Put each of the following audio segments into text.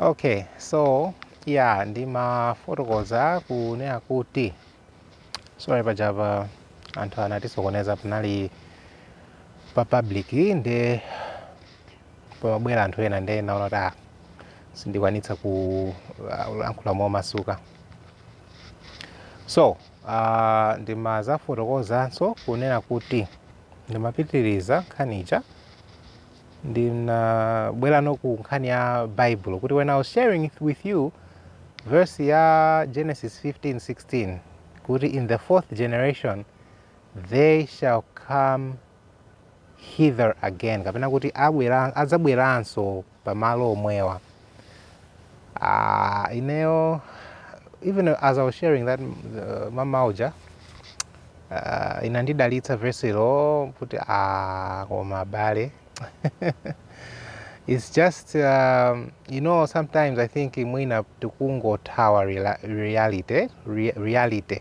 okay so ya ndimafotokoza zonena kuti sorry pajapa anthu anatisokoneza panali pa public nde pamabwera anthu ena nde naona kuti ah, sindikwanitsa kulankhula momasuka so uh, ndimazafotokozanso kunena kuti ndimapitiriza nkhani ija ndinabweranso ku nkhani ya bible kuti when i was sharing with you verse ya genesis 15 16 kuti in the fourth generation they shall come hither again kapena kuti adzabweranso pamalo omwewo Ah, ineyo even as I was sharing that uh, mama uja uh, inandidalitsa verse lo kuti ah, koma bale it's just um, you know sometimes I think mwina tikungothawa rela- reality re- reality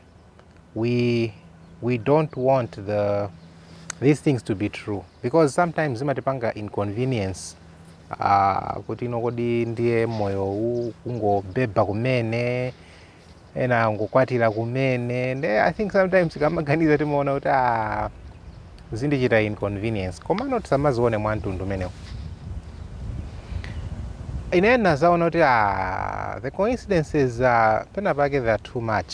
we we don't want the these things to be true because sometimes zimatipanga inconvenience uh, kuti ino kodi ndiye moyo ukungobeba kumene ena angokwatira kumene nde i think sometimes tikamaganiza timaona kuti ah, zindichita inconvenience komano tisamazione mwa mtundu umenewu ine ndinazaona kuti ah, the coincidences uh, pena pake they are too much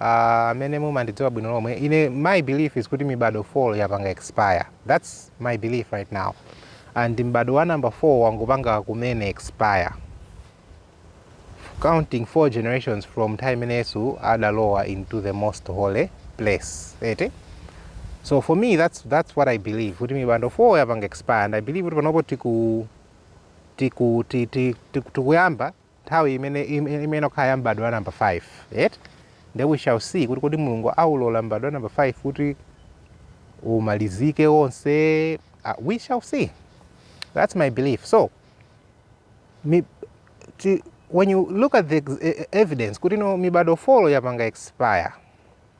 amene mumandidziwa bwino lomwe ine my belief is kuti mibadwo 4 yapanga expire that's my belief right now and m'badwo wa number 4 wangopanga kumene expire counting four generations from nthawi imene yesu adalowa into the most holy place eti so for me that's, that's what i believe kuti mibadwo 4 yapanga expire and i believe kuti panopo tiku tiku ti- ti- tiku- tikuyamba nthawi imene, imayenera kukhala ya m'badwo wa namba 5, eti? Ndiye we shall see kuti kodi Mulungu awulola m'badwo wa namba 5 kuti umalizike wonse, ah, we shall see, that's my belief. So, mi, ti, when you look at the ex- e- e- evidence kuti no mibadwo 4 yapanga expire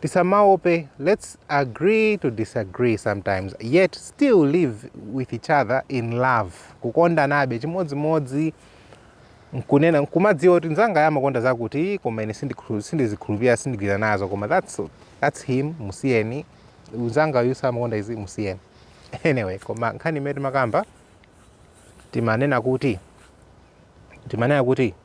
tisamaope lets agree to disagree sometimes yet still live with each other in love kukondanabe chimodzimodzi nkunena nkumadziwa kuti nzangayu amakonda zakuti koma ine sindikhu- sindizikhulupirira sindigwira nazo koma that's, that's him musiyeni nzanga uyu samakonda izi musiyeni anyway koma nkhani imene timakamba timanena kuti timanena kuti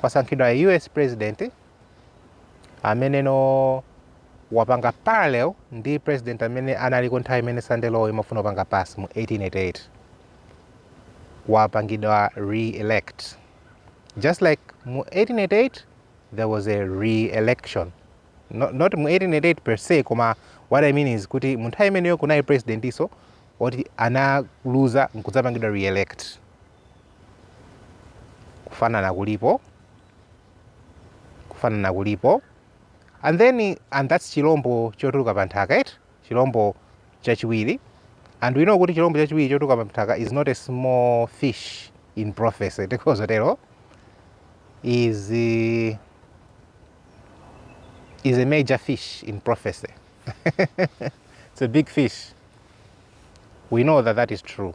kwasankhidwa a us president amenenso wapanga parallel ndi president amene analiko nthawi imene sunday law imafuna kupanga pass mu 1888 wapangidwa re-elect just like mu 1888 there was a re-election not, not mu 1888 per se koma what i mean is kuti mu nthawi imeneyo kunali presidentinso oti analuza nkudzapangidwa re-elect kufanana kulipo kufanana kulipo and then and that's chilombo chotuluka pa nthaka eti chilombo chachiwiri and we know kuti chilombo chachiwiri chotuluka pa nthaka is not a small fish in prophecy tikhoza kutero is uh, is a major fish in prophecy it's a big fish we know that that is true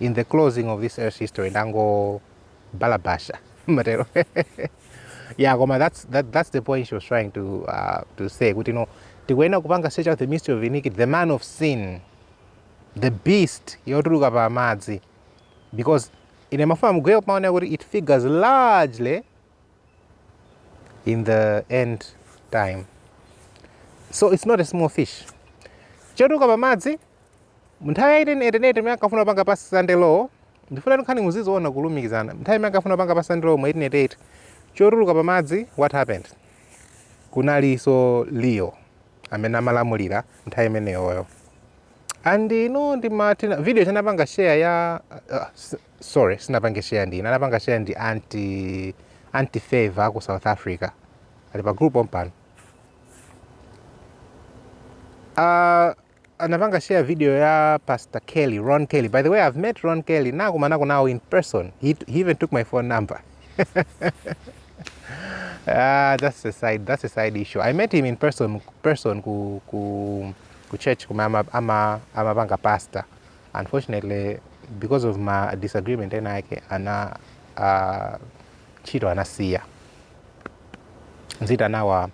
in the closing of this earth's history ndangobalalitsa ma tero yeah koma that's, that, that's the point she was trying to, uh, to say kuti no tikuyenera kupanga search out the mystery of iniquity the man of sin the beast yotuluka pa madzi because ine ndimafuna muziona kumaonera kuti it figures largely in the end time so it's not a small fish chotuluka pamadzi nthawi ya 1888 imene ankafuna kupanga pass sunday law ndifuna nkhani muziziona kulumikizana nthawi imene ankafuna kupanga pass sunday law mu 1888 chotuluka pamadzi what happened kunalinso leo amene amalamulira nthawi imeneyoyo and ine ndi martin video ija anapanga share ya uh, s- sorry sinapange share ndine anapanga share ndi anti anti favor aku south africa ali pa group pompano uh, anapanga share video ya pastor kelly ron kelly by the way i've met ron kelly nakumanako nawo in person he, he even took my phone number Ah, that's a side that's a side issue. I met him in person person ku ku, ku church kumama ama amapanga pastor. unfortunately because of ma disagreement ena ake ana uh, ntchito anasiya zaka zinayi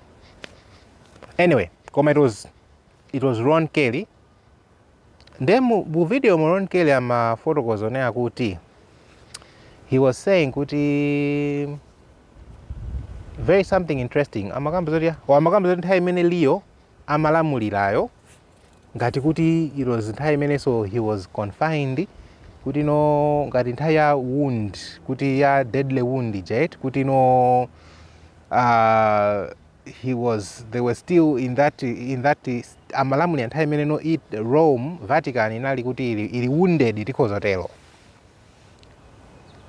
anyway koma it was it was ron kelly nde mu mu video mu ron kelly amafotokoza zonena kuti he was saying kuti very something interesting amakamba zoti wa amakamba zoti nthawi imene leo amalamulirayo ngati kuti it was nthawi imenenso he was confined kuti no ngati nthawi ya wound kuti ya deadly wound ija eti kuti no uh, he was they were still in that in that amalamulira nthawi imene no it rome vatican inali kuti ili, ili wounded tikhoza kutero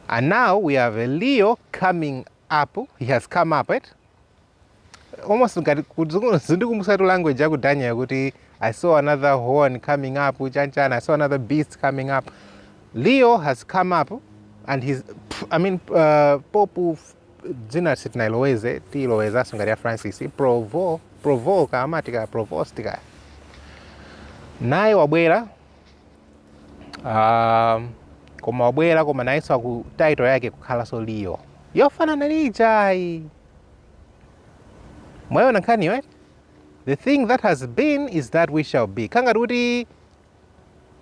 and now we have a leo coming up he has come up it almost ngati kudziko- zindikumbutsa tu language yaku daniel kuti i saw another horn coming up chanchana i saw another beast coming up leo has come up and he's pff, i mean uh, popu f- dzina sitinaloweze tiilowezanso ngati ya francis provo provo kamatika provost kaya naye wabwera Ah, koma wabwera koma nayenso ku title yake kukhalanso leo yofanana ndi ijayi mwayiona nkhaniyo eti? the thing that has been is that which shall be kukhala ngati kuti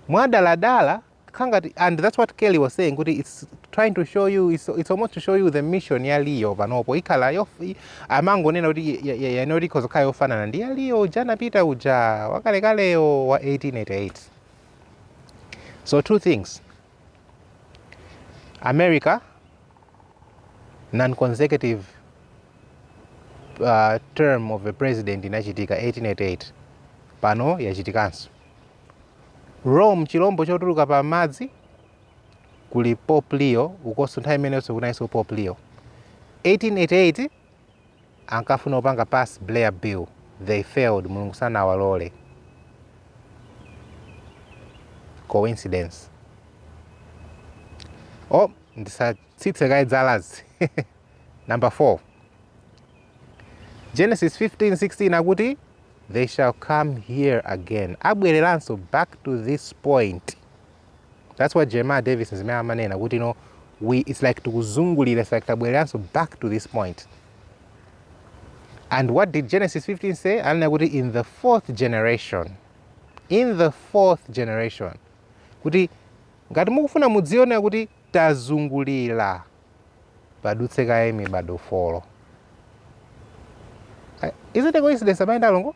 mwadaladala kukhala ngati and that's what kelly was saying kuti it's trying to show you it's, it's almost to show you the mission ya leo panopo ikhala yof- i- amangonena kuti yanoti ikhoza kukhala yofanana ndi ya leo uja anapita uja wakalekaleyo wa 1888 so two things america non-consecutive uh, term of a president inachitika 1888 pano yachitikanso rome chilombo chotuluka pa madzi kuli pope leo ukonso nthawi imeneyonso kunalinso pope leo 1888 ankafuna kupanga pass blair bill they failed mulungu sanawalole coincidence oh ndisatsitse kaye dzalazi number 4 genesis 15 16 akuti they shall come here again abwereranso back to this point that's what jeremiah davis zimene amanena kuti you know, we, it's like tikuzungulira it's like tabwereranso back to this point and what did genesis 15 say ananena kuti in the fourth generation in the fourth generation kuti ngati mukufuna mudzione kuti tazungulira padutse kaye mibado folo is it a coincidence amene ndalongo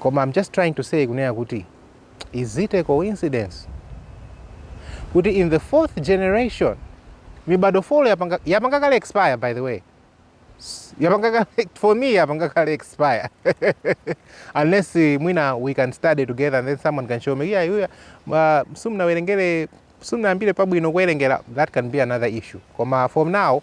koma I'm just trying to say kunena kuti is it a coincidence kuti in the fourth generation mibado folo yapanga, yapanga kale expire by the way yapanga kale for me yapanga kale expire unless eh, mwina we can study together and then someone can show me yeah, yeah, uh, sumnawerengere sumnayambire pabwino kuwerengera that can be another issue koma from now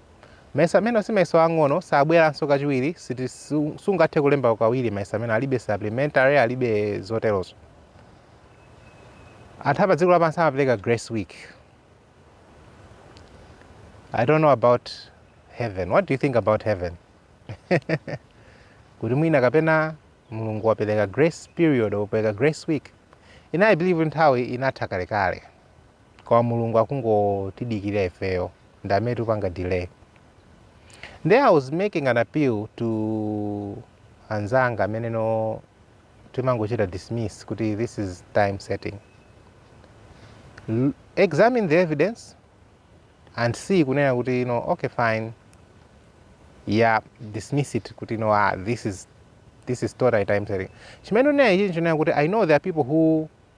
Mayeso amenewo si mayeso ang'ono, sabweranso kachiwiri, siti, su, sungathe kulemba kawiri mayeso amene alibe supplementary, alibe zoterozo. Anthu apa dziko lapansi amapereka grace week. I don't know about heaven. What do you think about heaven? kuti mwina kapena mulungu wapereka grace period wapereka grace week i believe nthawi inatha kalekale koma mulungu akungotidikilira ifeyo ndi amene tikupanga delay nde i was making an appeal to anzanga amene timangochita dismiss kuti this is time setting examine the evidence and see kunena kuti you know, okay fine yeah dismiss it kuti you know, ah, this is this is totally time setting chimene ndinena ichi ndinena kuti i know there are people who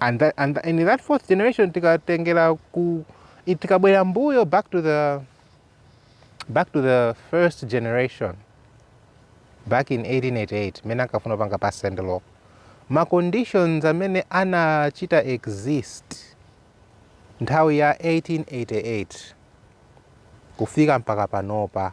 and, that, and, and in that fourth generation tikatengera ku tikabwera mbuyo back to the back to the first generation back in 1888 mene ankafuna kupanga pass sunday law ma conditions amene anachita exist nthawi ya 1888 kufika mpaka panopa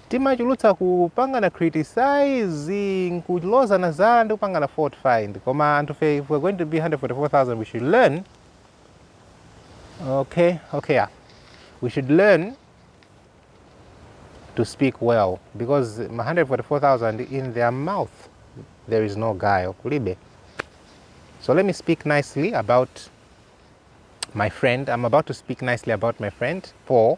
Timachulutsa kupangana criticize, nkulozana zala ndi kupangana fault find koma anthufe if we're going to be 144,000 we should learn okay okay yeah. we should learn to speak well because ma 144,000 in their mouth there is no guile kulibe so let me speak nicely about my friend i'm about to speak nicely about my friend paul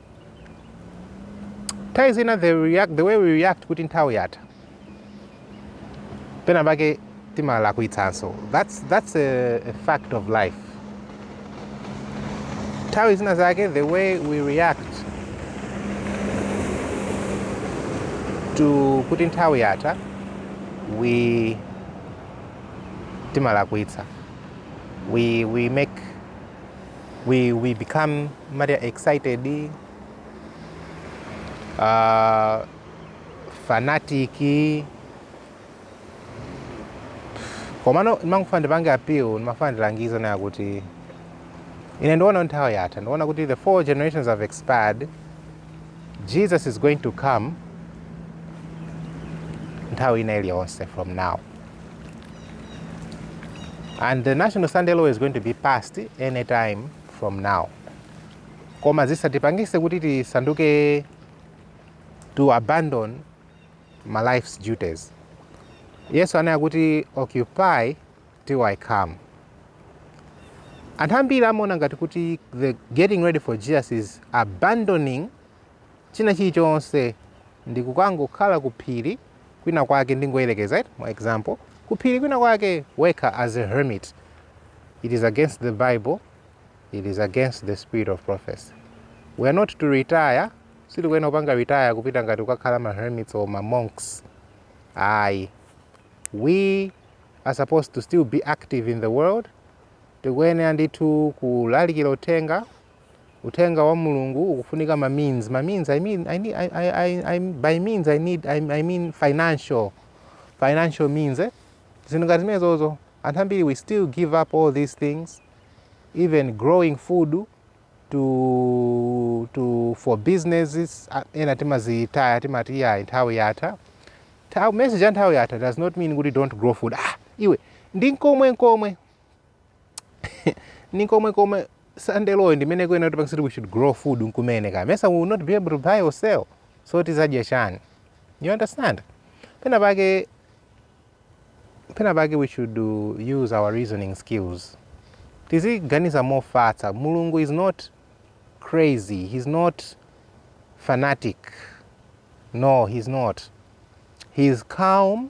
nthawi zina the, react, the way we react kuti nthawi yatha pena pake timalakwitsanso that's, that's a, a fact of life nthawi zina zake the way we react to kuti nthawi yatha we timalakwitsa we, we make we, we become more excited uh, fanatic komano ndimangofuna ndipange appeal ndimafuna ndilangize nawo kuti ine ndiona nthawi yatha ndiona kuti the four generations have expired jesus is going to come nthawi ina iliyonse from now and the national sunday law is going to be passed any time from now koma zisatipangise kuti tisanduke to abandon my life's duties yesu ananena kuti occupy till i come anthu ambiri amaona ngati kuti the getting ready for jesus is abandoning china chilichonse ndi kukangokhala ku phiri kwina kwake ndingoyerekeza for example ku phiri kwina kwake wekha as a hermit it is against the bible it is against the spirit of prophecy we are not to retire sitikuyenera kupanga retire kupita ngati kukakhala ma hermits or ma monks ayi we are supposed to still be active in the world tikuyenera ndithu kulalikira uthenga Uthenga wa Mulungu ukufunika ma means. Ma means I mean, I need, I, I, I, I, by means I need I, I mean financial financial means eh? zinthu ngati zimenezozo anthu ambiri we still give up all these things even growing food to, to for businesses ah, ena timazitaya timati yayi nthawi yatha Tha- message ya nthawi yatha does not mean kuti don't grow food ah, iwe ndi nkomwe komwe ni komwe komwe Sunday law yo ndimene kuyenera kuti tipange kuti we should grow food nkumene ka paja we will not be able to buy or sell so tizadya chani you understand pena pake pena pake we should do, use our reasoning skills tiziganiza mofatsa mulungu is not crazy he's not fanatic no he's not he's calm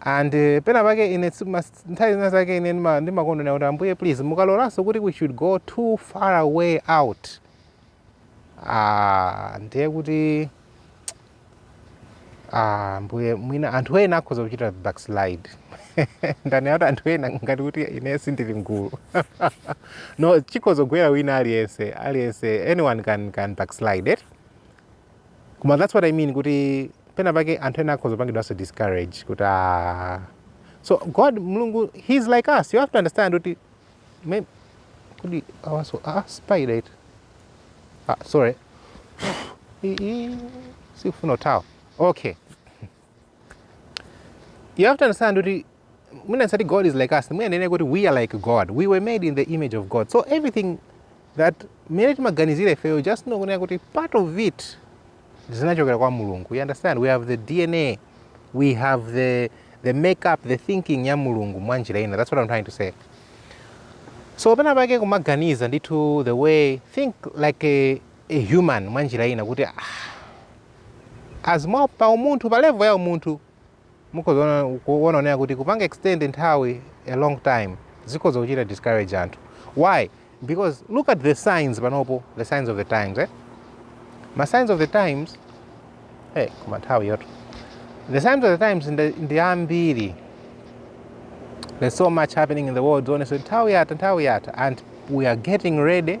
And pena pake ine nthawi zina zake ine ndimakondwera kuti ambuye please mukalolanso kuti we should go too far away out ah, ndiye kuti ah, mbuye mwina anthu ena akhoza kuchita backslide ndanena kuti anthu ena ngati kuti ine sindili mgulu no chikhoza kugwera wina aliyense aliyense anyone can, can backslide it Koma that's what I mean kuti pena pake anthu ena akhoza kupangidwanso discourage kuti ah. So God Mulungu he's like us. You have to understand kuti kodi awaso ah spider eti. Ah sorry. Sikufuna kuthawa. Okay. You have to understand kuti mwina osati God is like us, mwina tinene kuti we are like God. We were made in the image of God. So everything that mmene timaganizira ifeyo just know kunena kuti part of it zinachokera kwa Mulungu. You understand? We have the DNA. We have the the makeup, the thinking ya Mulungu mwa njira ina. That's what I'm trying to say. So pena pake kumaganiza ndithu the way think like a, a human mwa njira ina kuti ah, As mwa pa umunthu, pa level ya umunthu, mukhoza kuona kunena kuti kupanga extend nthawi a long time zikhoza kuchita discourage anthu. Why? Because look at the signs panopo, the signs of the times eh? Ma signs of the times eh, koma nthawi yotha. The signs of the times ndi ambiri. There's so much happening in the world, honestly. Nthawi yatha, nthawi yatha. And we are getting ready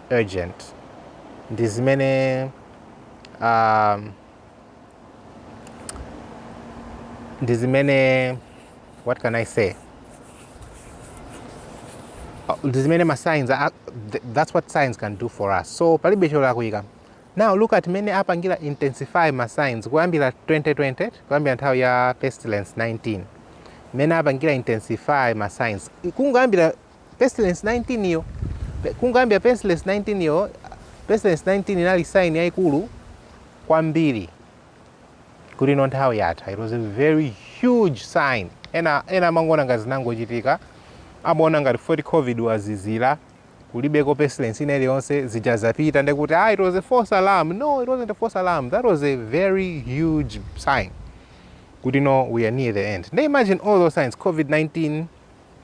urgent ndi zimene um, ndi zimene what can i say Uh, ndi zimene ma signs are, th- that's what signs can do for us so palibe cholakwika now look at mmene apangira intensify ma signs kuyambira 2020 kuyambira nthawi ya pestilence 19 mmene apangira intensify ma signs kungoyambira Pestilence 19 yo, kungoyambira Pestilence 19 iyo, Pestilence 19 inali sign yaikulu kwambiri kuti no nthawi yatha. It was a very huge sign. Ena ena amangoona ngati zinangochitika, amaona ngati poti COVID wazizira kulibeko pestilence ina iliyonse zija zapita nde kuti ah, it was a false alarm. No, it wasn't a false alarm. That was a very huge sign kuti no we are near the end. Now imagine all those signs COVID-19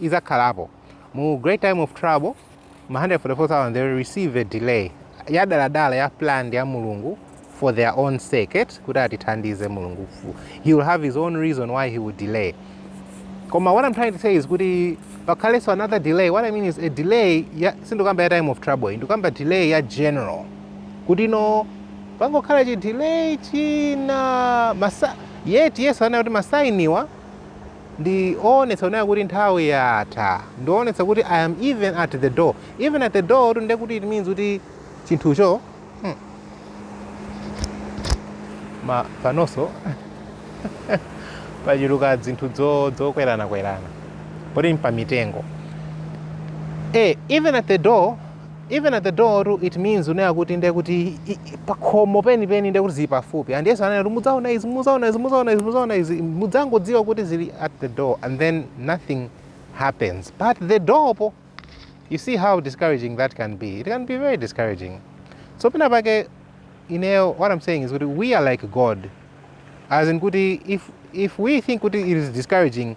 idzakhalapo. Mu Great Time of Trouble, ma 144,000 they will receive a delay yadaladala ya planned ya Mulungu for their own sake eti kuti atithandize Mulungu he will have his own reason why he will delay koma what I'm trying to say is kuti pakhalenso another delay what I mean is a delay ya sindikukamba ya time of trouble ndikukamba delay ya general kuti no pangokhala chi delay china masa yet yesu ananena kuti ma sign-wa ndi owonetsa kunena kuti nthawi yatha ndi owonetsa kuti i am even at the door even at the door tu nde kuti it means kuti chinthucho hmm. ma panonso pachuluka dzinthu dzokwerana kwerana poti mpamitengo e eh, even at the door Even at the door tu it means unena kuti ndiye kuti i- i- pakhomo penipeni ndiye kuti zili pafupi and yesu anati mudzaona izi mudzangodziwa kuti zili at the door and then nothing happens pa at the door po you see how discouraging that can be it can be very discouraging so pena pake ineyo what i'm saying is kuti we are like god as in kuti if, if we think kuti it is discouraging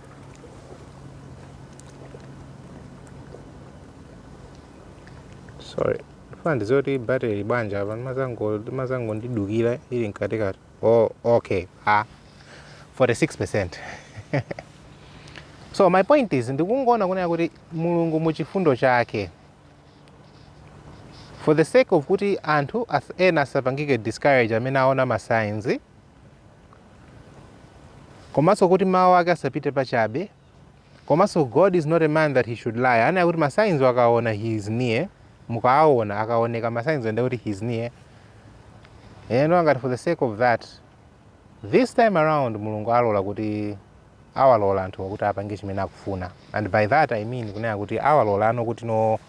sorry ifuna ndiziwe kuti battery ili bwanji apa imazangondidukira ili mkatikati oh, okay ah, 46 percent so my point is ndikungoona kunena kuti mulungu mu chifundo chake for the sake of kuti anthu as- ena asapangike discourage amene aona ma signs komanso kuti mawu ake asapite pachabe komanso god is not a man that he should lie anena kuti ma signs wo akaona he is near mukaawona akaoneka ma signs wo nde kuti he is near ngati for the sake of that this time around mulungu alola kuti awalola anthu akuti apange chimene akufuna and by that i mean kunena kuti awalolano kuti no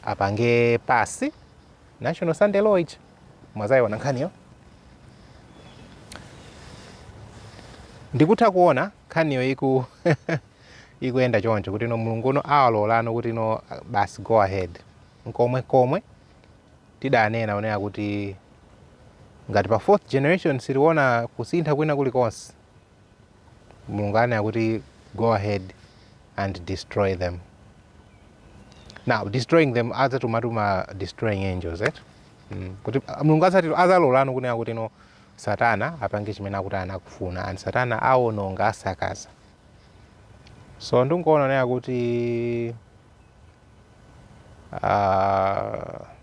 apange pass national sunday law ichi mwazayiona nkhaniyo ndikutha kuona nkhaniyo iku ikuyenda choncho kuti no mulungu uno awalolano kuti no basi go ahead nkomwe komwe tidanena unena kuti ngati pa fourth generation siliona kusintha kwina kulikonse mulungu anena kuti go ahead and destroy them now destroying them adzatuma tu ma destroying angels et mm. kuti ah, mulungu adzatero adzalolano kunena kuti no satana apange chimene akuti anakufuna and satana awononga asakaza so ndikuona nena kuti uh,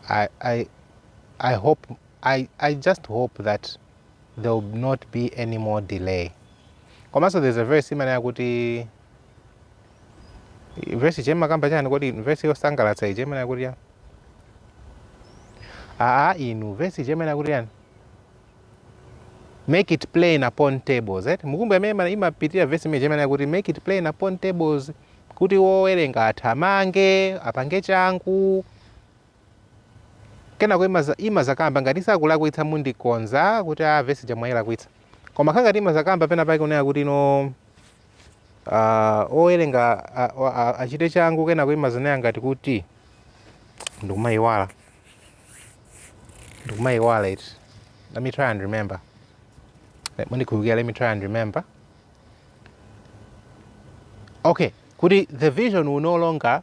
I, I, I hope I, I just hope that there will not be any more delay komanso there's a verse imene yakuti verse ija imakamba chani kodi verse yosangalatsa ije imanena kuti ya aa inu verse ije imanena kuti chani make it plain upon tables right mukumbuka mmene imapitira verse imene imanena kuti make it plain upon tables kuti wowerenga athamange apange changu Kenako imaza imaza kamba ngati sakulakwitsa mundikonza kuti a vesi ija mwailakwitsa. Koma kha ngati imaza kamba pena pake kunena kuti no uh, owerenga achite changu kenako imaza nena ngati kuti ndikumaiwala ndikumaiwala it let me try and remember ndikulukira let me try and remember okay kuti the vision will no longer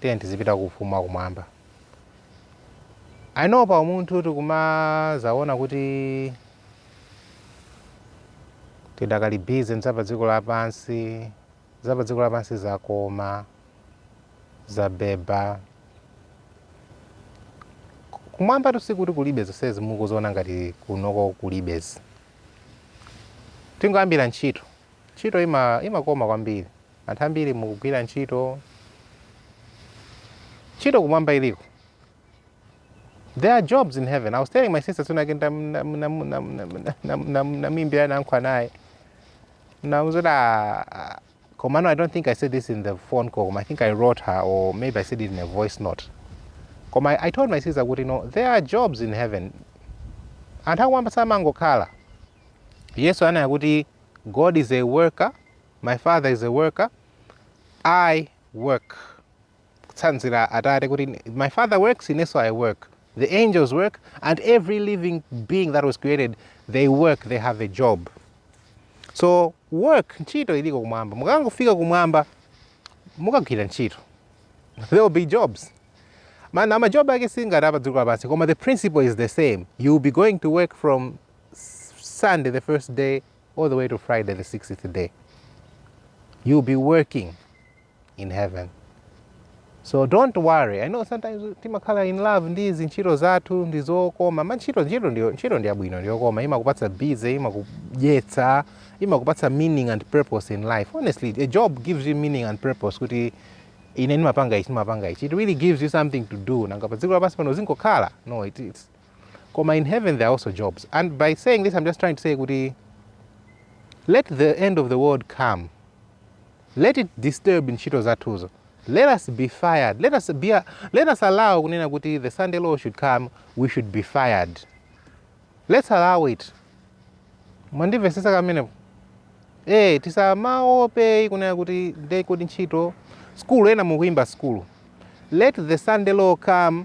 tiyeni tizipita ku ufumu wa kumwamba i know pa umunthu tikumazaona kuti tidakali busy nzapa dziko lapansi zapa dziko lapansi zakoma zabeba kumwamba tu sikuti kulibe zonsezi mukuziona ngati kunoko kulibezi tingoyambira ntchito ntchito ima- imakoma kwambiri Anthu ambiri mukugwira ntchito, ntchito kumwamba iliko. There are jobs in heaven. I was telling my sister soon again namimbira nankho anaye. Namuzo da Komano, I don't think I said this in the phone call. I think I wrote her or maybe I said it in a voice note. Koma I told my sister kuti you know, there are jobs in heaven. Anthu akwamba samangokhala. Yesu anaya kuti God is a worker My father is a worker, I work. Kutsanzira atate kuti my father works, inenso I work. The angels work and every living being that was created, they work, they have a job. So work ntchito iliko kumwamba. Mukangofika kumwamba mukagwira ntchito. There will be jobs. Man, ama job ake si ngati a pa dziko lapansi koma the principle is the same. You will be going to work from Sunday the first day all the way to Friday, the 6th day. You'll be working in heaven. So don't worry. I know sometimes timakhala in love ndi izi ntchito zathu ndi zokoma. Ma ntchito ndi yabwino ndi yokoma. Imakupatsa busy, imakudyetsa, imakupatsa meaning and purpose in life. Honestly, a job gives you meaning and purpose kuti ine ndimapanga ichi ndimapanga ichi. It really gives you something to do. Nanga pa dziko lapansi pano zingokhala. No, it, it's koma in heaven there are also jobs and by saying this i'm just trying to say kuti let the end of the world come let it disturb ntchito zathuzo let us be fired let us, be a, let us allow kunena kuti the sunday law should come we should be fired let's allow it mwandimvesesa kamenepo e eh, tisamaope kunena kuti ndekodi ntchito skulu ena mukuimba skulu let the sunday law come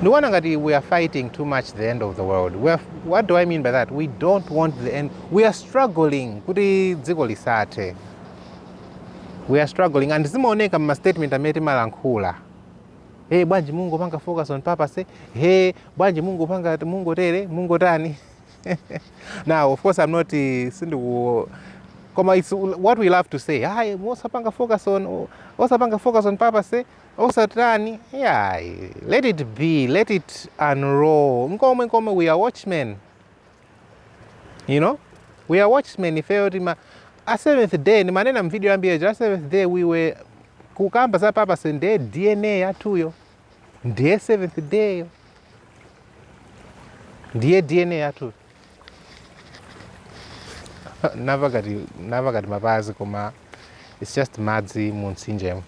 ndikuona ngati we are fighting too much the end of the world what do i mean by that we don't want the end we are struggling kuti dziko lisathe we are struggling and zimaoneka mma statement amene timalankhula hey bwanji mungopanga focus on purpose hey bwanji mungopanga mungotere mungotani now of course i'm not uh, sindiku koma it's what we love to say hayi osapanga focus on osapanga focus on purpose Osatani? Ayi. Let it be. Let it unroll. Nkomwe nkomwe we are watchmen. You know? We are watchmen ifeyo tima a seventh day ndimanena mvideo yambuyo ija a seventh day we were kukamba za purpose nde DNA yathuyo ndiye seventh day ndiye DNA yathuyo napakati napakati mapazi koma it's just madzi mu mtsinjemo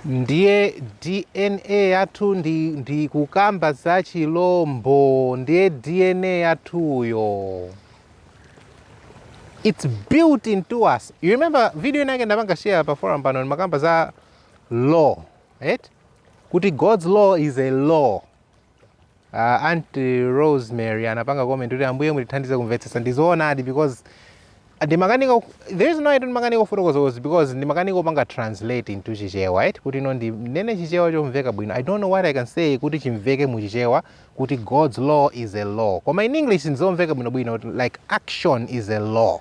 ndiye dna yathu ndikukamba za chilombo ndiye dna yathuyo it's built into us you remember video inake ndinapanga share pa forum pano ndimakamba za law right kuti god's law is a law Uh, Aunt Rosemary anapanga comment kuti ambuye mutithandize kumvetsetsa ndizoonadi because the reason why ndimakanika kufotokoza because ndimakanika kupanga translate into chichewa right kuti ine ndinene chichewa chomveka bwino I don't know what I can say kuti chimveke mu chichewa kuti God's law is a law koma in English nzomveka bwino bwino like action is a law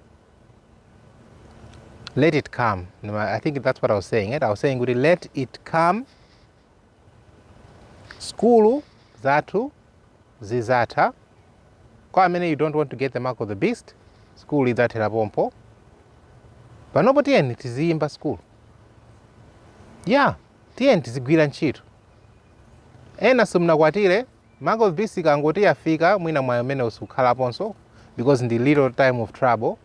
let it come no, i think that's what i was saying it? i was saying kuti let it come skulu zathu zizatha kwa ife amene you don't want to get the mark of the beast skulu idzathera pompo panopo tiyeni tiziyimba skulu yeah tiyeni tizigwira ntchito ena simunakwatire Mark of the beast ikangoti yafika mwina mwayi umenewo sukhalaponso because mu little time of trouble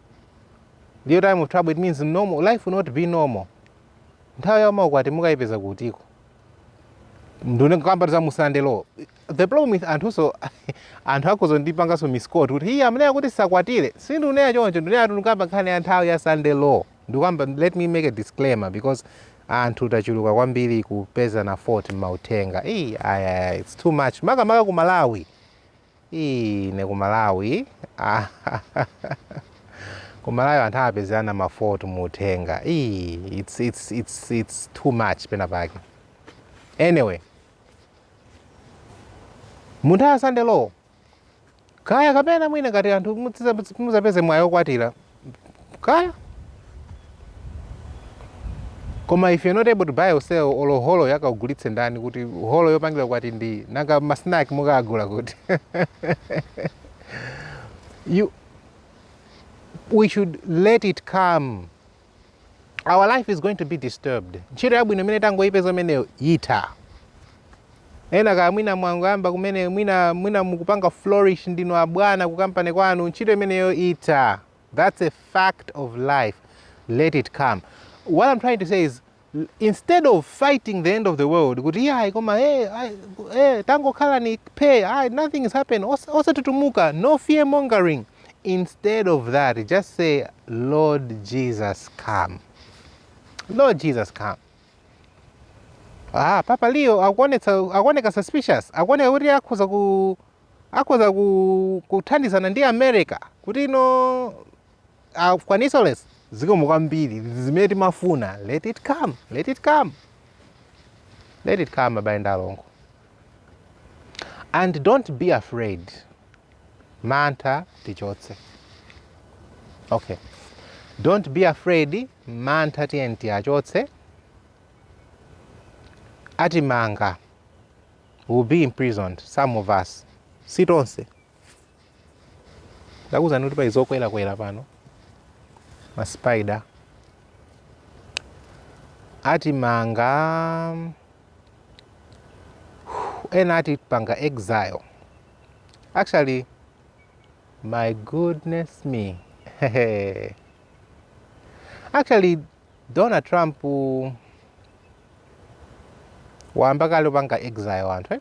little time of trouble it means normal life will not be normal nthawi yomakwatira mukayipeza kutiko ndukukamba za mu sunday law the problem with anthunso anthu akhoza kundipanganso misquote kuti iye amene akuti tisakwatire sindikunena choncho ndikunena tikukamba nkhani ya nthawi ya sunday law Ndikukamba let me make a disclaimer because anthu tachuluka kwambiri kupezana fault m'mauthenga Ii, ayi, ayi, ayi, it's too much makamaka ku malawi Ii, ne ku malawi Ah, ku malawi anthu amapezana mafault mu uthenga Ii, it's, it's, it's, it's too much pena pake anyway mu nthawi ya sunday law kaya kapena mwina ngati anthu mudza- mudzapeze mwayi okwatira kaya koma if you're not able to buy or sell olo holo akakugulitse ndani kuti holo yopangira ukwati ndi nanga masnack mukagula kuti you we should let it come our life is going to be disturbed ntchito yabwino imene tangoyipeza imeneyo itha ena kaya mwina mwangoyamba kumene mwina mwina mukupanga flourish ndinu abwana ku kampani kwanu ntchito imeneyo itha that's a fact of life let it come what i'm trying to say is instead of fighting the end of the world kuti iyayi koma hey, eh, ay, hey, eh, tangokhalani phee ay, nothing is happening osatutumuka no fear mongering instead of that just say lord jesus come lord jesus come ah, papa leo akuoneka suspicious akuoneka kuti akhoza ku akhoza kuthandizana ndi america kuti ino akwanitse ulosi zikomo kwambiri izi zimene timafuna let it come let it come let it come abale ndi alongo and don't be afraid mantha tichotse okay don't be afraid mantha tiyeni tiachotse atimanga will be imprisoned some of us si tonse ndakuuzani kuti pali zokwerakwera pano ma spider atimanga ena atipanga exile actually my goodness me actually donald trump wayamba kale upanga exile anthu eh?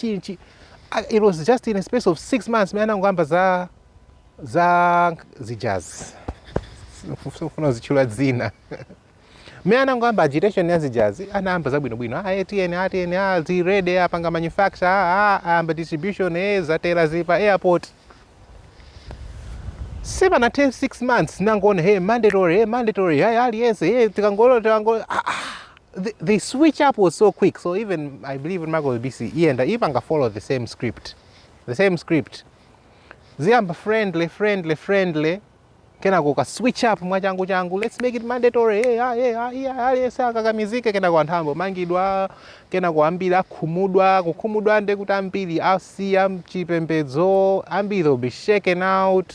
chi, chi, I- it was just in a space of six months mene anangoyamba za za zijazi sindifuna zitchula dzina mene anangoyamba agitation ya zijazi anayamba zabwinobwino ah, tiyeni tiyeni ah, zili ready apanga manufacture ah, ah, ayamba distribution eh, zatera zili pa airport sipanathe 6 months nangoona hey mandatory hey mandatory hey aliyense hey tikangolo tikangolo ah, ah. they, they switch up was so quick. So even I believe in Marco BC, he and Ipanga follow the same script, the same script. Ziamba friendly, friendly, friendly. Kena kuka switch up mwachangu changu. Let's make it mandatory. Hey, ah, hey, ah, hey, ah, hey, saka kamizike kena kwa nthambo mangidwa kena kuambira khumudwa kukhumudwa nde kuti ambiri asiya chipembedzo ambiri will be shaken out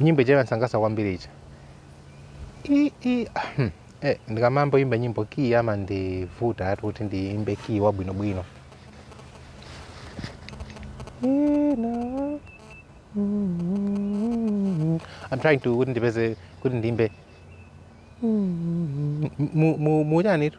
nyimbo ija imandisangalatsa kwambiri ija I- i- ahem. Eh, ndikamambo imba nyimbo kiyi amandivutatu kuti ndiimbe kiyi wabwinobwino Ina- Mm. I'm trying to kuti ndipeze kuti ndiimbe mu chanitu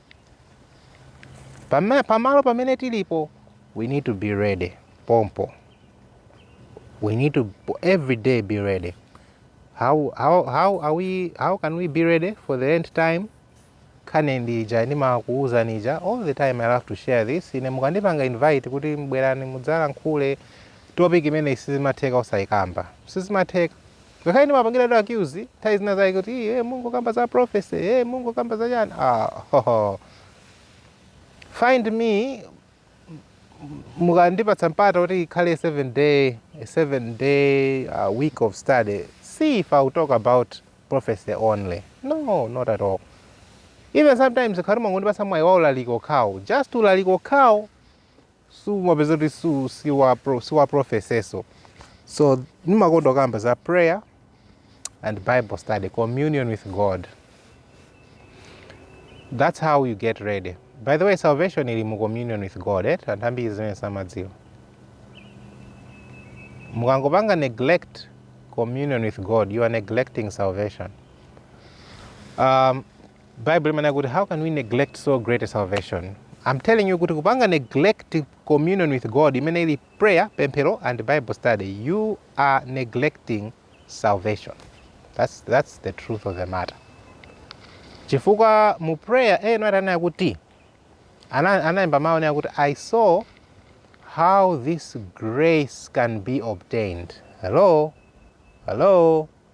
Pama- pamalo pamene tilipo we need to be ready pompo we need to every day be ready how, how, how, are we, how can we be ready for the end time nkhani ndi ija ndimakuuzani ija all the time i love to share this ine mukandipanga invite kuti bwerani mudzalankhule topic imeneyi sizimatheka osayikamba sizimatheka Ngakhale ndimapangiridwa accuse nthawi zina zake kuti iye mungokamba za prophecy, eh mungokamba za chani. Ah, hoho. Find me mukandipatsa mpata kuti ikhale 7 day 7 day uh, week of study see if I'll talk about prophecy only no not at all even sometimes ngati mwangondipatsa mwayi wa ulaliki okhawo just ulaliki okhawo sumapeza kuti su- si wa pro- si wa prophecy so ndimakonda kamba za prayer and bible study communion with god that's how you get ready by the way salvation ili mu communion with god eh? anthu ambiri zimene samadziwa mukangopanga neglect communion with god you are neglecting salvation um, bible imanena kuti how can we neglect so great a salvation i'm telling you kuti kupanga neglect communion with god imene ili prayer pemphero and bible study you are neglecting salvation that's, that's the truth of the matter chifukwa mu prayer Ellen White ananena kuti analemba mawu onena kuti i saw how this grace can be obtained hello hello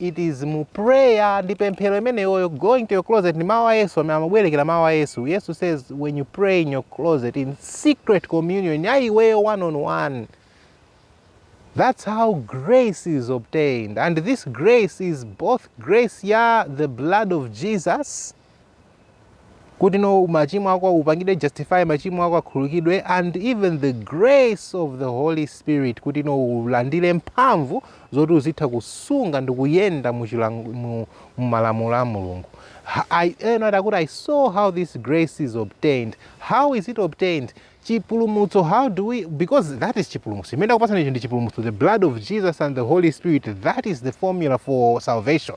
It is mu prayer ndi pemphero imeneyoyo going to your closet ndi mawu a Yesu amene amabwereka mawu a Yesu. Yesu says when you pray in your closet in secret communion ya iweyo one on one. That's how grace is obtained and this grace is both grace ya the blood of Jesus kuti no machimo ako upangidwe justify machimo ako akhululukidwe and even the grace of the holy spirit kuti no ulandire mphamvu zoti uzitha kusunga ndi kuyenda mu chilang- mu- mu malamulo a mulungu Ha- I- ena ati akuti i saw how this grace is obtained how is it obtained chipulumutso how do we because that is chipulumutso chimene akupatsana icho ndi chipulumutso the blood of jesus and the holy spirit that is the formula for salvation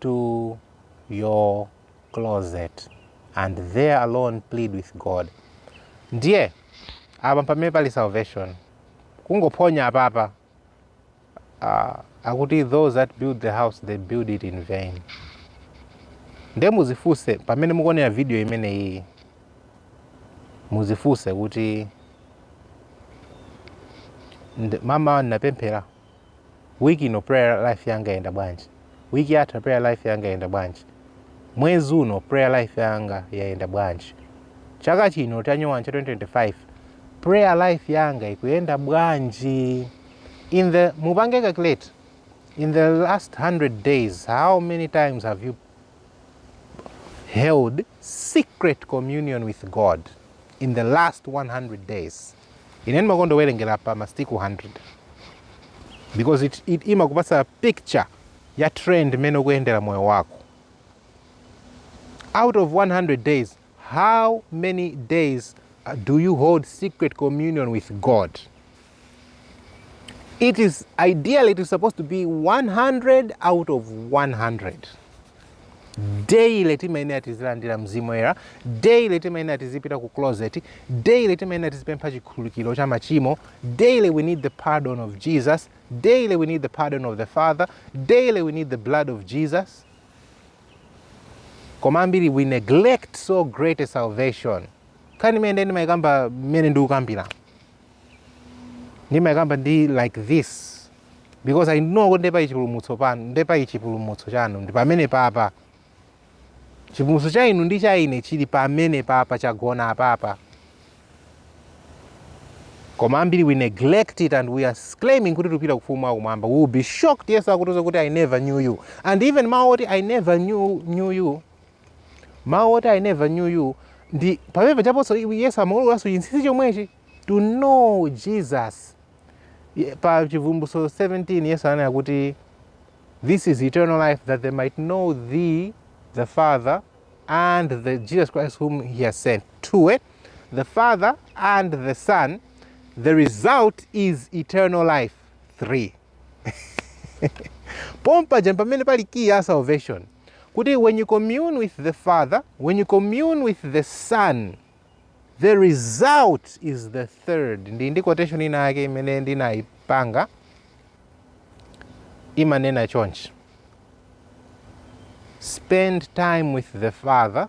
to your closet and there alone plead with God. Ndiye apa pamene pali salvation kungophonya apapa uh, akuti those that build the house they build it in vain nde muzifunse pamene mukuonera video imeneyi muzifunse kuti mmawa ndapemphera Week ino prayer life yanga yayenda bwanji? Week yatha prayer life yanga yayenda bwanji? Mwezi uno prayer life yanga yayenda bwanji? Chaka chino chanyowani cha 2025 prayer life yanga ikuyenda bwanji? In the mupange calculate in the last 100 days how many times have you held secret communion with God in the last 100 days? Ine ndimakonda kuwerengera pa masiku 100 because it, it imakupasa picture ya trend imene ukuyendera moyo wako out of 100 days how many days uh, do you hold secret communion with god it is ideally it is supposed to be 100 out of 100 daily timayenera tizilandira mzimu woyera daily timayenera tizipita ku closet daily timayenera tizipempha chikhululukiro cha machimo daily we need the pardon of jesus daily we need the pardon of the father daily we need the blood of jesus koma ambiri we neglect so great a salvation nkhani imene ndimayikamba mmene ndikukambira ndimayikamba ndi like this because i know kuti nde pali chipulumutso panu nde pali chipulumutso chanu ndi pamene papa chipulumutso cha inu ndi cha ine chili pamene papa chagona apapa koma ambiri we neglect it and we are claiming kuti tupita ku ufumu wakumwamba we will be shocked yesu akutiuza kuti i never knew you and even mawu oti i never knew, knew you Mawu oti I never knew you ndi pamene pajanso Yesu amaululanso chinsinsi chomwechi to know Jesus. Ye- Pa Chivumbulutso 17 Yesu ananena kuti This is eternal life, that they might know thee, the Father, and the Jesus Christ whom he has sent. Two, eh? the Father and the Son. The result is eternal life. Three. pompaja pamene pali key ya salvation kuti when you commune with the father when you commune with the son the result is the third ndi ndi quotation ina yake imene ndinayipanga imanena chonchi spend time with the father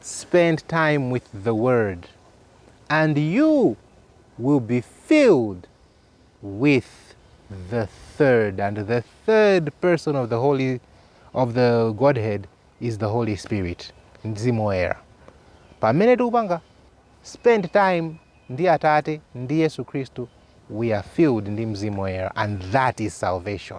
Spend time with the word and you will be filled with the third and the third person of the holy of the godhead is the holy spirit mzimu woyera pamene tikupanga spend time ndi atate ndi yesu khristu we are filled ndi mzimu woyera and that is salvation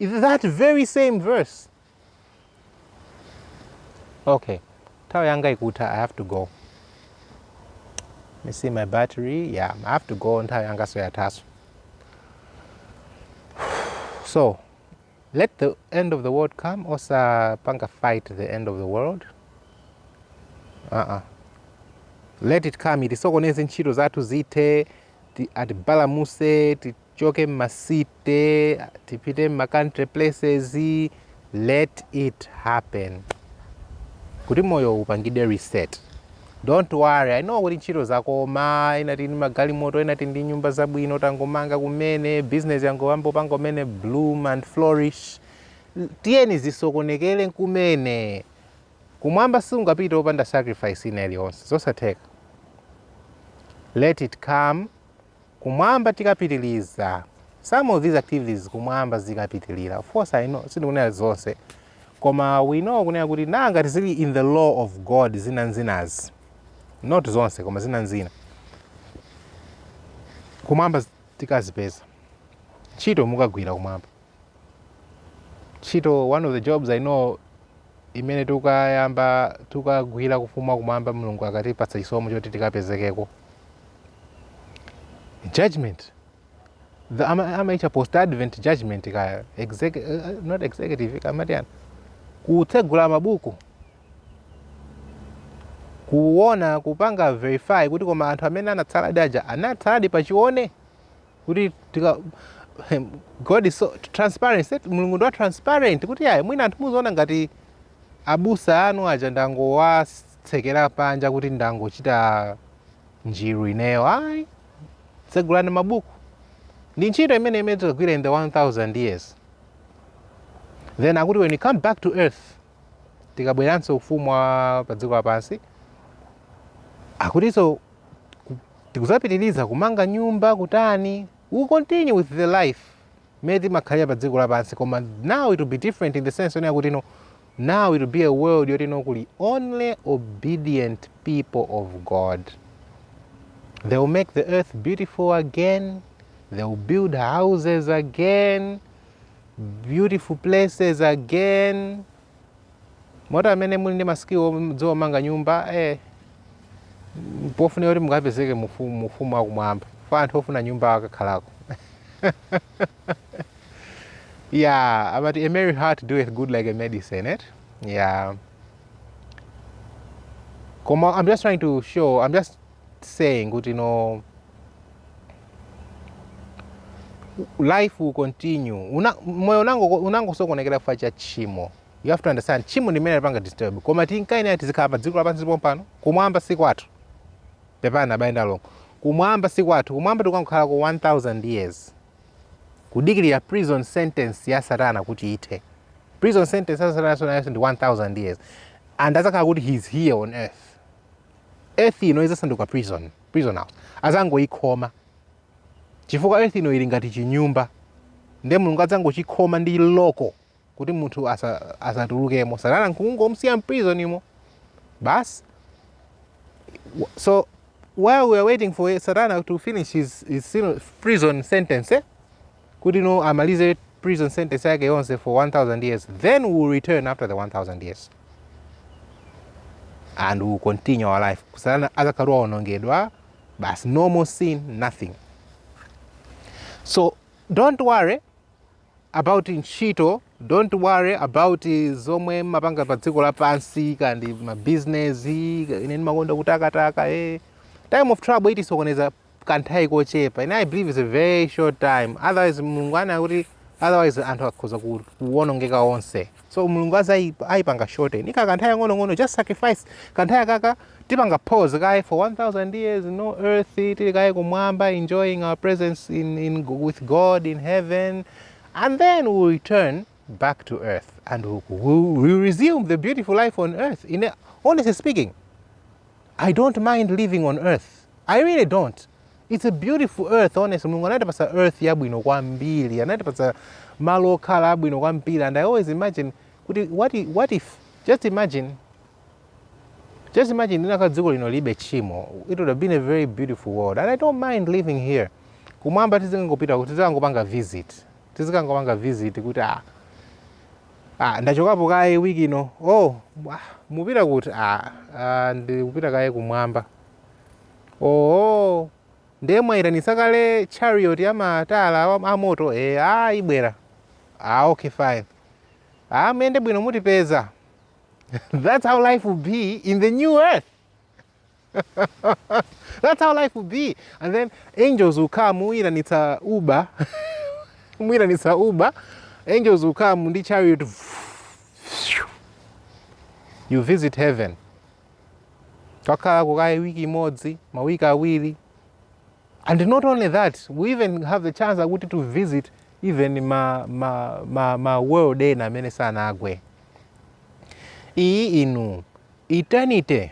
that very same verse okay nthawi yanga ikutha i have to go me see my battery yeah i have to go nthawi yanga soyathaso so let the end of the world come osapanga fight the end of the world uh -uh. let it come itisokoneze ntchito zathu zithe atibalamuse tichoke mma city tipite mma country places let it happen kuti moyo upangidwe reset don't worry i know kuti ntchito zakoma ena tili ndi magalimoto ena tili ndi nyumba zabwino tangomanga kumene business yangoyamba kupanga kumene bloom and flourish tiyeni zisokonekere kumene kumwamba sungapite opanda sacrifice ina iliyonse zosatheka let it come Kumwamba tikapitiliza some of these activities kumwamba zikapitilira of course I know sindikunena zonse koma we know kunena kuti na ngati zili in the law of God zina nzinazi not zonse koma zina nzina kumwamba tikazipeza ntchito mukagwira kumwamba Ntchito, One of the jobs I know imene tikukayamba tikukagwira ku ufumu wa kumwamba Mulungu akatipatsa chisomo choti tikapezekeko. Judgment. The, ama, amaitcha post advent judgment kaya exec, uh, not executive kaya amati chani kutsegula mabuku kuona kupanga verify kuti koma anthu amene anatsaladi aja anatsaladi pachoona kuti tika God is so transparent Mulungu ndi wa transparent kuti ayi mwina anthu muziona ngati abusa anu aja ndangowatsekera panja kuti ndangochita njiru ineyo ayi tsegulani mabuku ndi ntchito imene imene tikagwira in the 1000 years then akuti when we come back to earth tikabweranso ufumu wa pa dziko lapansi akutinso tikuzapitiliza kumanga nyumba kutani we will continue with the life mmene timakhalira pa dziko lapansi koma now it will be different in the sense onena kuti no now it will be a world yoti no kuli only obedient people of god they will make the earth beautiful again they will build houses again beautiful places again moti amene muli ndi ma skill mudziwa kumanga nyumba eh, pofunika kuti mukapezeke mu ufu- mu ufumu wakumwamba fa anthu ofuna nyumba akakhalako yeah amati a merry heart doeth good like a medicine eh yeah Koma, I'm just trying to show, I'm just saying kuti you know, life will continue Una, moyo unango- unangosokonekera chifukwa cha tchimo you have to understand tchimo ndi limene lipanga disturb koma tinkayenera tizikhala pa dziko lapansi pompano kumwamba si kwathu pepani abale ndi alongo kumwamba si kwathu kumwamba tikangokhalako 1000 years kudikirira prison sentence ya satana kuti ithe prison sentence ya satana nayo ndi 1000 years and azakhala kuti he is here on earth earth ino izasanduka prison prison house azangoikhoma chifukwa earth ino ili ngati chinyumba nde mulungu adzangochikhoma ndi loko kuti munthu asa- asatulukemo satana nkungomsiya mprisonimo basi so while we are waiting for satana to finish his, his sin- prison sentence eh? kuti no amalize prison sentence yake yonse for 1000 years then we will return after the 1000 years and we will continue our life satana azakhala waonongedwa basi no more sin nothing so don't worry about ntchito don't worry about zomwe mmapanga pa dziko lapansi kaya ndi mabizinesi ine ndimakonda kutakataka eh. time of trouble itisokoneza kanthawi kochepa ine i believe it's a very short time otherwise mulungu anena kuti otherwise anthu akhoza ku- kuwonongeka onse so mulungu azai- aipanga shorten ndi kakanthawi kakang'onong'ono just sacrifice kanthawi kakako tipanga pause kaye for 1000 years no earth tili kaye kumwamba enjoying our presence in, in, with god in heaven and then we'll return back to earth and we'll, we'll, we'll resume the beautiful life on earth in a, honestly speaking I don't mind living on earth. I really don't. It's a beautiful earth, honestly. Mulungu anatipasa earth yabwino kwambiri. Anatipasa malo okhala abwino kwambiri. And I always imagine kuti what if, what if just imagine just imagine linakakhala dziko lino lilibe tchimo. It would have been a very beautiful world. And I don't mind living here. Kumwamba tizingangopita kuti tizikangopanga visit. Tizikangopanga visit kuti ah Ah, ndachokapo kaye week ino. Oh, ah, mupita kuti? Ah, ah, ndikupita kaye kumwamba. Oh, ndiye mwayitanitsa kale chariot ya matala wa- a moto? Eh, ah, ibwera. Ah, okay, fine. Ah, muyende bwino mutipeza. That's how life will be in the new earth. That's how life will be. And then angels will come, muyitanitsa Uber. muyitanitsa Uber. Angels will come ndi chariot. You visit heaven. Kukakhala kukaye wiki imodzi, mawiki awiri. And not only that, we even have the chance akuti to visit even ma, ma, ma, ma world ena amene sanagwe. Iyi inu Eternity,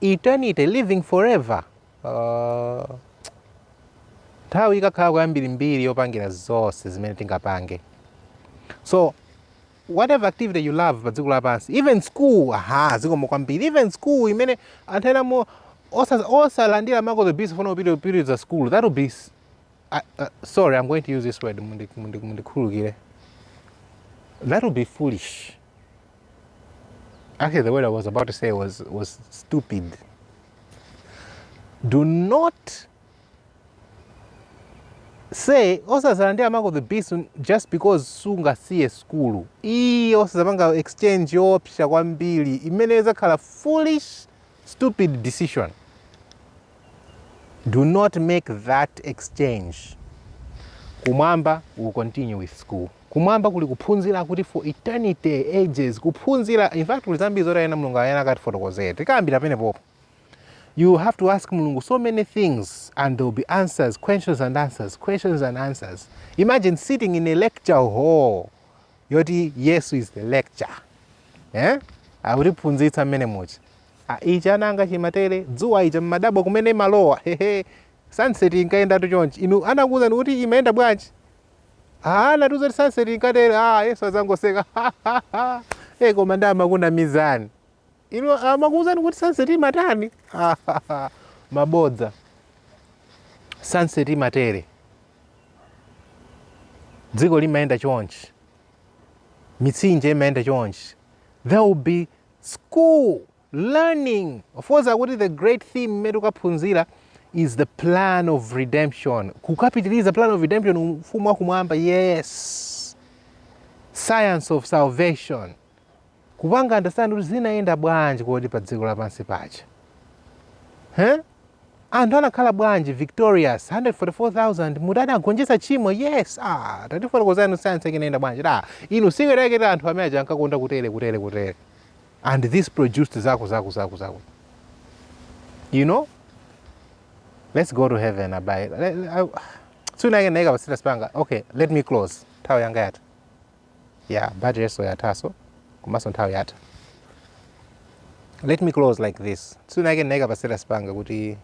eternity, living forever. Uh, nthawi ikakhala yambirimbiri yopangira zonse zimene tingapange so whatever activity you love pa dziko lapansi even school aha zikomo kwambiri even school imene anthu enanu osa- osalandira mark of the beast pofuna kupitiriza school that will be s- I- uh, sorry i'm going to use this word mundi- mundi- mundikhululukire that will be foolish Actually, the word I was about to say was, was stupid. Do not say osazalandira mark of the beast just because sungasiye sukulu iyi osazapanga exchange yoopsa kwambiri imene izakhala foolish stupid decision do not make that exchange kumwamba we'll continue with school Kumwamba kuli kuphunzira kuti for eternity, ages, kuphunzira, in fact, kuli zambiri zoti ayenera Mulungu ayenera akatifotokozere. Tikambira pene popo. You have to ask Mulungu so many things and there will be answers, questions and answers, questions and answers. Imagine sitting in a lecture hall yoti Yesu is the lecturer. Eh? Akutiphunzitsa mmene muchi. Ah, ichi ananga chimatere, dzuwa lija mmadabwa kumene limalowa. Hehe. Sunset inkayenda tu chonchi. Inu anakuwuzani kuti imayenda bwanji? Ah, anatiuza kuti sunset inkatere. Ah, Yesu adzangoseka. Eh, koma ndiye amakunamizani. Inu amakuuzani kuti sunset imatani? Mabodza. Sunset imatere. Dziko limayenda chonchi. Mitsinje imayenda chonchi. There will be school learning. Of course akuti the great theme imene tikaphunzira is the plan of redemption. Kukapitiliza plan of redemption ufumu wa kumwamba. Yes. Science of salvation. Kupanga understand kuti zinayenda bwanji kodi pa dziko lapansi paja. Huh? anthu anakhala bwanji victorious 144000 moti anagonjetsa chimo yes ah, tatifotokozani sayansi yake inayenda bwanji da inu singeraeketa anthu amene aja ankakonda kutere kutere kutere and this produced zaku zaku zaku zaku you know let's go to heaven abai suna yake naika pasita spanga okay let me close nthawi yanga yata yeah but yeso yataso komanso nthawi yata let me close like this suna yake naika pasita spanga kuti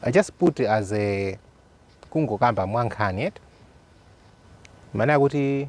i just put as a kungokamba mwankhani et maana kuti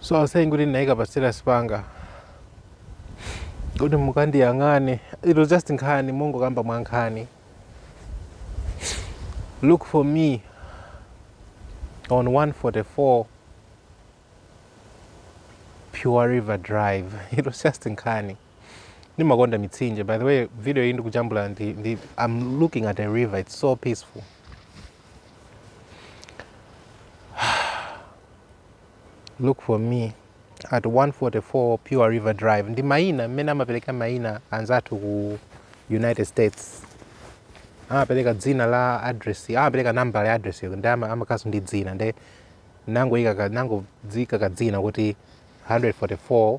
so I was saying kuti ndinayika pa status panga kuti mukandiyang'ane it was just nkhani mongokamba mwa nkhani look for me on 144 pure river drive it was just nkhani ndimakonda mitsinje by the way video iyi ndikujambula ndi, ndi i'm looking at a river it's so peaceful look for me at 144 pure river drive ndi maina mmene amaperekera maina anzathu ku united states amapereka dzina la address amapereka nambala ya address yako ndi ama- amakaso ndi dzina nde nangoyika ka- nangoyika kadzina kuti 144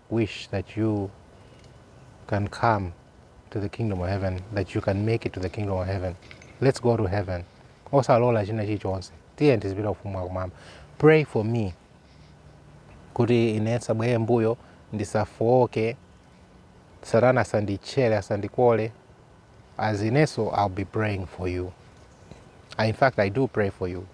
wish that you can come to the kingdom of heaven that you can make it to the kingdom of heaven let's go to heaven osalola china chilichonse tiye tizipita ufumu wakumwamba pray for me kuti ine sabwere mbuyo ndisafooke satana asanditchere asandikole as ineso i'll be praying for you I, in fact i do pray for you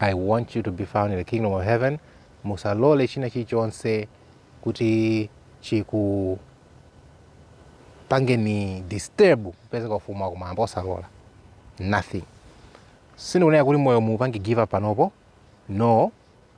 i want you to be found in the kingdom of heaven musalole china chilichonse kuti chikupangeni disturb kupezeka ufumu wa kumwamba osalola nothing sindikunena kuti moyo muupange give up panopo no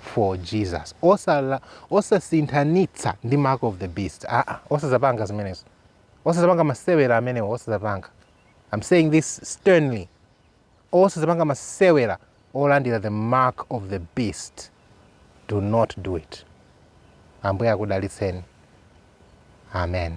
for jesus osala osasinthanitsa ndi mark of the beast aa ah, ah. osazapanga zimenezo osazapanga masewera amenewo osazapanga i'm saying this sternly osazapanga masewera olandira the mark of the beast do not do it ambuye akudalitseni amen